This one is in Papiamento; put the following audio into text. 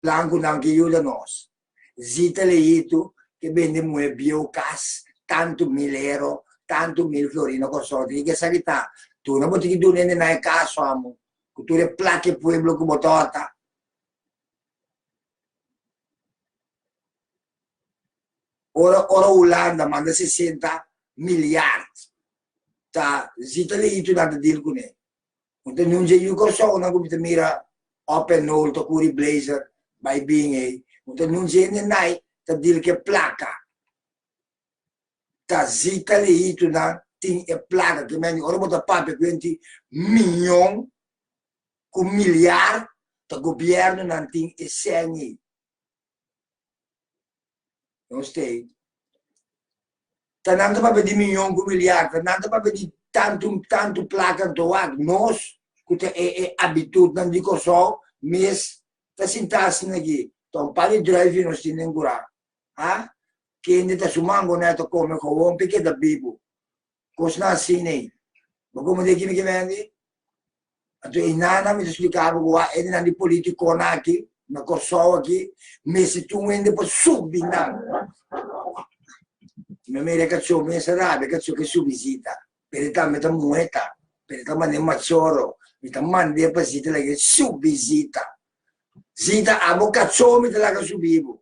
Blancunan ke yuda nos. Zita Leito ke bende muhe bieu cas tantu mil ero, tantu mil florino consorte. Kiko e sa ki ta? Tuna bo tin ki duna e nenai caso amo cu tur e placa e pueblo cu bo torta. Ora ora Hulanda manda sesenta miliard ta Zita Leito nan ta deal cune. Un ta nunsia yu Kòrsounan ku mi ta mira òp en nol ta kuri blazer bai bin ei. Un ta nunsia hende nai ta dil ku e plaka. Ta si kaliitunan tin e plaka ki men di ora bo ta papia ku henti miñon ku miliar ta gobièrnunan tin e sèn ei. Nos stay. Ta nan ta papia di miyon ku miliar, ta nan ta papia di tantu tantu plaka nto wak. Nos ku ta e e abitudnan di Kòrsou mes ta sintá asina aki, ta un par di dròifi nos tin den kurá, a kende ta su mangoné ta kome kowon pa e keda bibu, Kosnan asin ei. Bo komo deki mi ke bendi? Anto e nana mester spliká bo ku wak hende nan di politikónan aki na Kòrsou aki mester tin un hende pa subi nan. Mi a mira e kachó mi mester a rabia e kachó ke subi sita. Pero e tambe ta muhé ta, pero e ta manera machorro. Mi ta mand'é pa sita lag'é e subi sita. Sita, abo kachó mi ta laga subi bo.